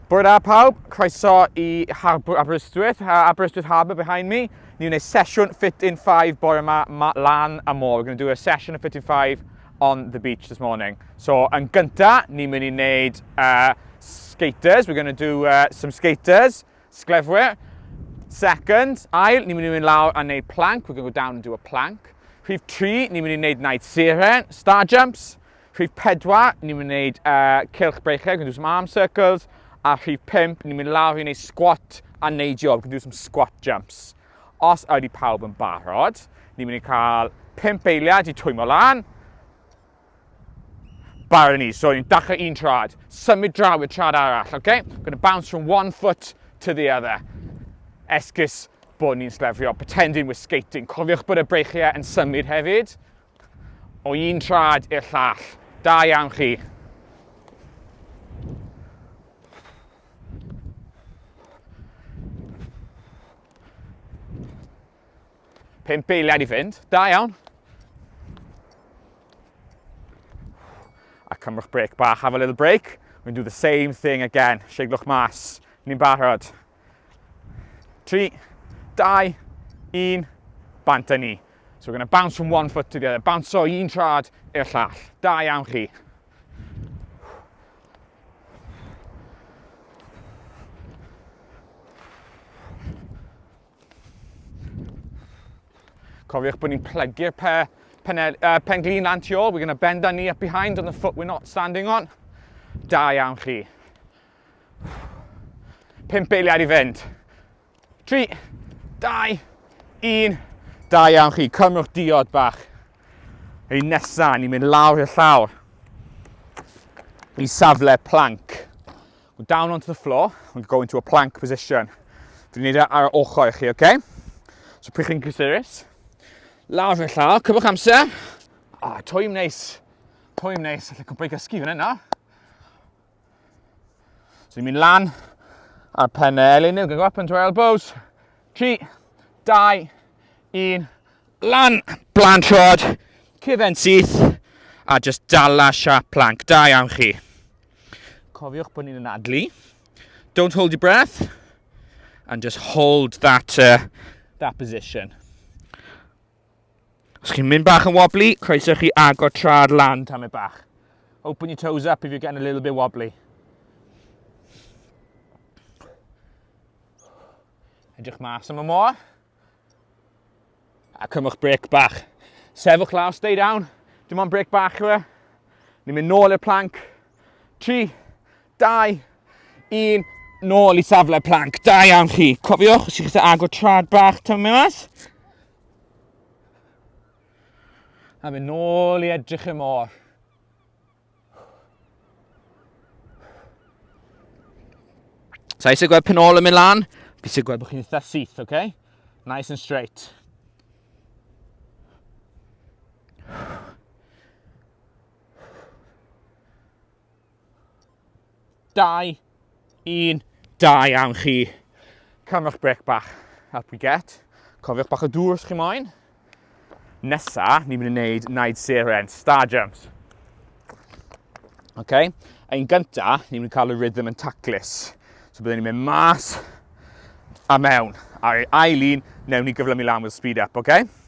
Bore da pawb, croeso i Harbwr Aberystwyth, uh, Aberystwyth Harbour behind me. Ni wneud sesiwn Fit in 5 bore yma, ma lan a môr. We're going to do a session of Fit in 5 on the beach this morning. So, yn gynta, ni'n mynd i wneud uh, skaters. We're going to do uh, some skaters, sglefwyr. Second, ail, ni'n mynd i mynd lawr a wneud plank. We're going to go down and do a plank. Rhif 3, ni'n mynd i wneud night siren, star jumps. Rhif 4, ni'n mynd i wneud uh, cylch breichiau, gwneud some arm circles, a rhif 5, ni'n mynd lawr i wneud squat a neidio, gwneud some squat jumps. Os ydy pawb yn barod, ni'n mynd i cael 5 eiliad i twymo lan. Barod ni, so ni'n dachrau un trad, symud draw i'r trad arall, okay? Gonna bounce from one foot to the other. Esgus bod ni'n slefrio, pretending we're skating. Cofiwch bod y breichiau yn symud hefyd, O un trad i'r llall. Da iawn chi. Pump eiliad i fynd. Da iawn. A cymrwch brec bach, have a little break. We'll do the same thing again. Seiglwch mas. Ni'n barod. 3, 2, 1, bant a ni. So we're going to bounce from one foot to the other. Bounce o un trad i'r llall. Da iawn chi. Cofiwch bod ni'n plygu'r pe, pen, uh, pen glin lan tu ôl. We're going to bend our knee up behind on the foot we're not standing on. Da iawn chi. Pimp eiliad i fynd. Tri, dau, un. Da iawn chi, cymrwch diod bach. Ein nesaf, ni'n mynd lawr i'r llawr. I safle plank. We're down onto the floor, we're going to a plank position. Dwi'n neud e ar y ochr i chi, oce? Okay? So pryd chi'n cysurus, lawr i'r llawr, cymrwch amser. Ah, oh, twy'n neis. Twy'n neis, allai cwbl i gysgu fan yna. So ni'n mynd lan ar pen y elin, ni'n go up into our elbows. 3, 2, 1, lan, blan trod, cyfen syth, a just dala siap plank. Da iawn chi. Cofiwch bod ni'n anadlu. Don't hold your breath. And just hold that, uh, that position. Os chi'n mynd bach yn wobbly, croeso chi agor tra'r lan tam e bach. Open your toes up if you're getting a little bit wobbly. Edrych mas am y môr. A cymwch brec bach. Sefwch lawr, stay down. Dim ond brec bach yw e. Ni'n mynd nôl i'r plank. 3, 2, 1, nôl i safle planc. Da iawn chi. Cofiwch, os ydych chi'n agor trad bach tyfu mas. A mynd nôl i edrych y môr. Sa eisiau gweld pen ôl yn mynd lan, fi eisiau gweld bod chi'n eitha syth, oce? Okay? Nice and straight. 2, 1, da iawn chi. Cafwch brec bach, up we get. Cofiwch bach o dŵr os chi moyn. Nesa, ni'n mynd i wneud Naid Seren, Star Jumps. Okay? Yn gynta, ni'n mynd i cael y rhythm yn taclus. So byddwn ni'n mynd mas a mewn. A'r ail un, newn ni gyflymu lan with speed up, okay?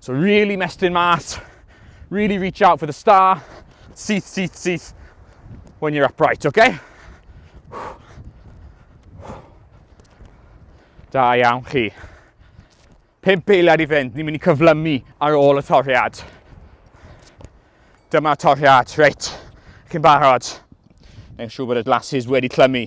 So really mestyn mas, really reach out for the star, syth, syth, syth, when you're upright, okay? Da iawn chi. Pimp eiliad i fynd, ni'n mynd i cyflymu ar ôl y toriad. Dyma toriad, reit, chi'n barod. Neu'n siŵr bod y glasses wedi clymu.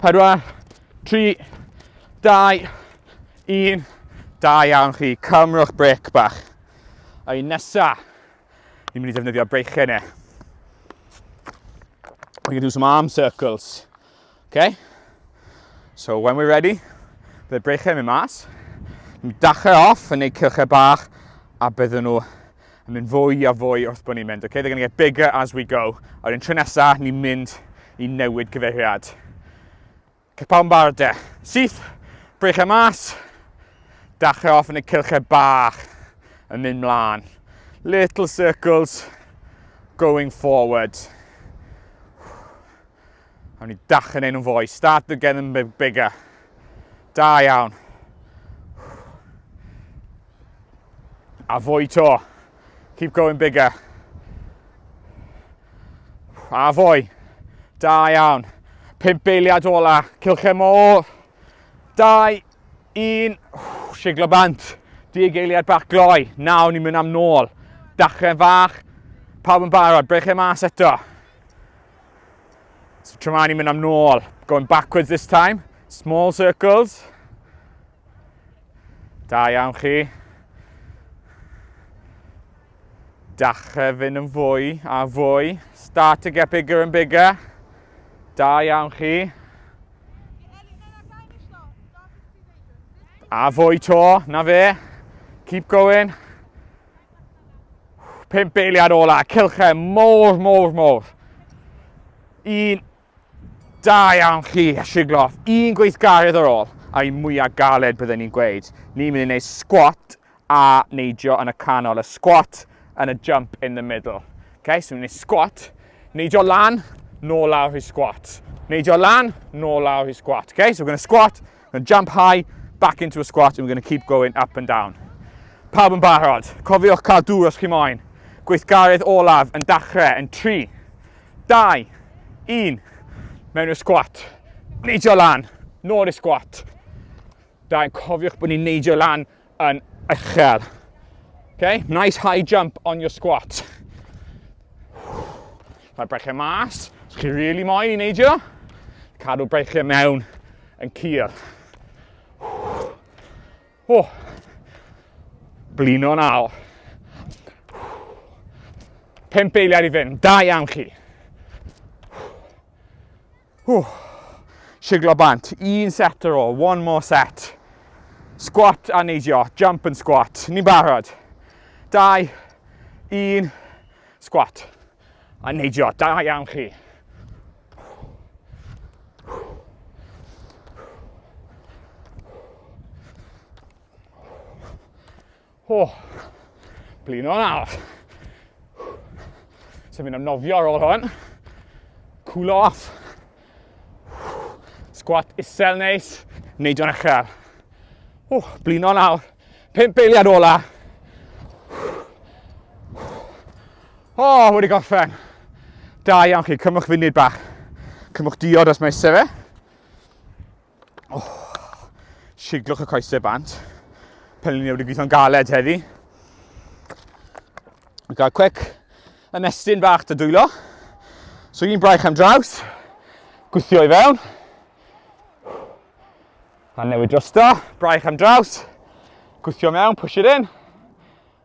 4, 3, 2, 1. Da iawn chi, cymrwch brec bach. A un nesa, ni'n mynd i ddefnyddio breichau ne. We're going to do some arm circles. Okay? So when we're ready, bydd breichau yn mynd mas. Ni'n dachau off yn neud cylchau bach a byddwn nhw yn mynd fwy a fwy wrth bod ni'n mynd. Okay, they're going to get bigger as we go. A'r un tro nesa, ni'n mynd i newid cyfeiriad. Capel yn barod de. Syth, brech e mas. Dachrau off yn y cilchau bach yn mynd mlaen. Little circles going forward. A ni dach yn ein nhw'n fwy. Start to get them bigger. Da iawn. A fwy to. Keep going bigger. A fwy. Da iawn. Pimp beiliad ola. Cilchau môr. Dau. Un. Siglo bant. Dig eiliad bach gloi. Nawr ni'n mynd am nôl. Dachrau fach. Pawb yn barod. Brechau mas eto. So tra ma'n i'n mynd am nôl, going backwards this time, small circles. Da iawn chi. Dachrau fynd yn fwy a fwy. Start to get bigger and bigger. Da iawn chi. A fwy to, na fe. Keep going. Pum beiliad ola, cilche mor, mor, mor. Un, da iawn chi, sigloff. Un gweithgaredd ar ôl, a'i mwyaf galed byddwn ni'n gweud. Ni'n mynd i wneud squat a neidio yn y canol. Y squat and a jump in the middle. Okay, so ni'n mynd i squat, neidio lan, nôl lawr i squat. Neidio lan, nôl lawr i squat. Okay, so we're going to squat, We're going to jump high, back into a squat, and we're going to keep going up and down. Pawb yn barod. Cofiwch cael dŵr os chi moyn. Gweithgaredd olaf yn dachrau yn 3, 2, 1. Mewn i'r sgwat. Neidio lan. Nôl i'r sgwat. Da, cofiwch bod ni'n neidio lan yn uchel. Okay, nice high jump on your squat. Rhaid breichiau mas, os chi really moyn i neidio, cadw breichiau mewn yn cur. Oh. Blino naw. Pimp eiliad i fynd, da iawn chi. Ww, siglo bant, un set ar ôl, one more set. Squat a neidio, jump and squat, ni'n barod. Dau, un, squat a neidio, da iawn chi. O, blino yn arall. So fi'n amnofio ar ôl hwn. Cool off. Sgwat isel neis. Neud o'n uchel. O, blino yn arall. Pimp eiliad ola. O, wedi gorffen. Da iawn chi, cymwch funud bach. Cymwch diod os mae eisiau fe. Oh, siglwch y coesau bant. Pelyn ni wedi gweithio'n galed heddi. Mae'n cael cwec ymestyn bach dy dwylo. So un braich am draws. Gwythio i fewn. A newid drosto. Braich am draws. Gwythio mewn, push it in.